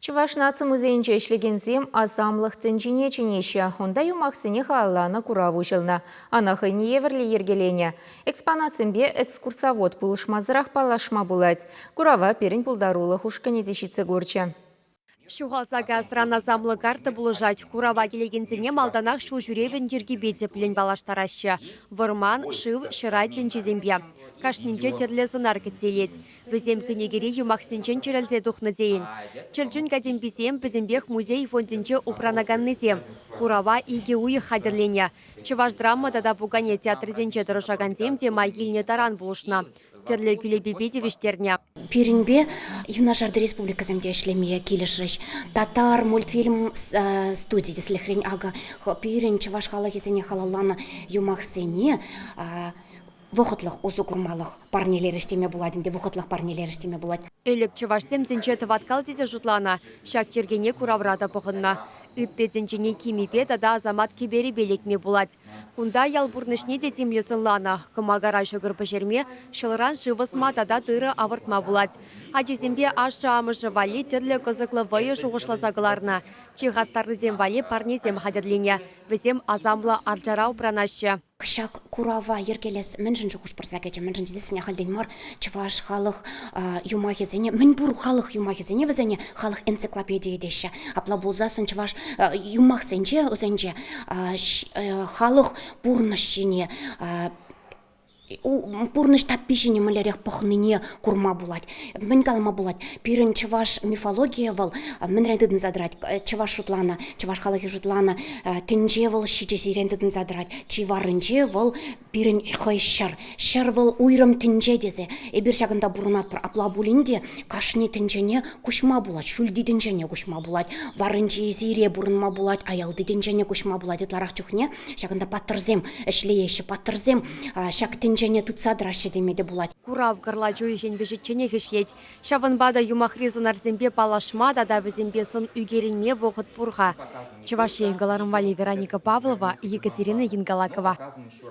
Чӑваш наци музейӗнче ӗҫлекенсем асамлӑх тӗнчине чӗнеҫҫӗ. Унта юмахсене халалланӑ курав уҫӑлнӑ. Ӑна хӑйне евӗрлӗ йӗркеленӗ. Экспонатсемпе экскурсовод пулӑшмасӑрах паллашма пулать. Курава пирӗн пултарулӑх ушкӑнӗ те ҫитсе курчӗ. Ҫухалса касран асамлӑ карта пулӑшать. Курава килекенсене малтанах ҫулҫӳревӗн йӗркипе тӗплӗн паллаштараҫҫӗ. Вӑрман, шыв, ҫӑра тӗнчисемпе. Кашнинче тӗрлӗ сӑнар кӗтсе илет. Вӗсем кӗнекере юмахсенчен чӗрӗлсе тухнӑ тейӗн. Чӗрчун катемписем пӗтӗмпех музей фондӗнче упранаканнисем. Курава икӗ уйӑх хатӗрленӗ. Чӑваш драма тата пукане театрӗсенче тӑрӑшакансем те май килнӗ таран пулӑшнӑ, тӗрлӗ кӳлепепе тивӗҫтернӗ. Пирӗнпе юнашар республикӑсем те ӗҫлеме килӗшрӗҫ. Татар мультфильм студи тӗслӗхрен, акӑ, пирӗн чӑваш халӑхӗсене халалланӑ юмахсене Вӑхӑтлӑх усӑ курмалӑх парнелерӗҫ теме пулать ӗнтӗ, вӑхӑтлӑх парнелерӗҫ теме пулать. Ӗлӗк чӑвашсем тӗнче тӑваткал тесе шутланӑ, ҫак йӗркене куравра та пӑхӑннӑ. Ытти тӗнчене кимӗпе тата асамат кӗперӗпе лекме пулать. Кунта ял пурнӑҫне те тимлӗ сӑнланӑ, кӑмакара ҫӑкӑр пӗҫерме, ҫӑлран шыв ӑсма тата тырӑ авӑртма пулать. Ачисемпе ашшӗ-амӑшӗ валли тӗрлӗ кӑсӑклӑ вӑйӑ шухӑшласа кӑларнӑ, чи хастаррисем валли парнесем хатӗрленӗ, вӗсем асамлӑ арчара упранаҫҫӗ. Ҫак курава йӗркелес мӗншӗн шухӑш пырса кӗчӗ? Мӗншӗн тесен ахальтен мар чӑваш халӑх юмахӗсене, мӗнпур халӑх юмахӗсене вӗсене халӑх энциклопедийӗ теҫҫӗ. Апла пулсассӑн чӑваш юмахсенче вӗсенче халӑх пурнӑҫ ҫине пурнӑҫ таппи ҫине мӗнлерех пӑхнине курма пулать. Мӗн калама пулать, пирӗн чӑваш мифологийӗ вӑл мӗнрен тытӑнса тӑрать? Чӑваш шутланӑ, чӑваш халӑхӗ шутланӑ, тӗнче вӑл ҫичӗсирен тытӑнса тӑрать, чи варринче вӑл пирӗн хӑй ҫӗр. Ҫӗр вӑл уйрӑм тӗнче тесе эпир ҫакӑнта пурӑнатпӑр. Апла пулин те кашни тӗнчене куҫма пулать, ҫӳлти тӗнчене куҫма пулать, варринчи сире пурӑнма пулать, аялти тӗнчене куҫма пулать ытларах чухне. Ҫакӑнта паттӑрсем ӗҫлееҫҫӗ, паттӑрсем ҫак тӗнчене тытса тӑраҫҫӗ теме те пулать. Курав кӑрлач уйӑхӗн вӗҫӗчченех ӗҫлет. Ҫавӑнпа та юмахри сунарсемпе паллашма тата вӗсемпе сӑн ӳкерӗнме вӑхӑт пур-ха. Чӑваш Ен кӑларӑм валли Вероника Павлова, Екатерина Янгалакова.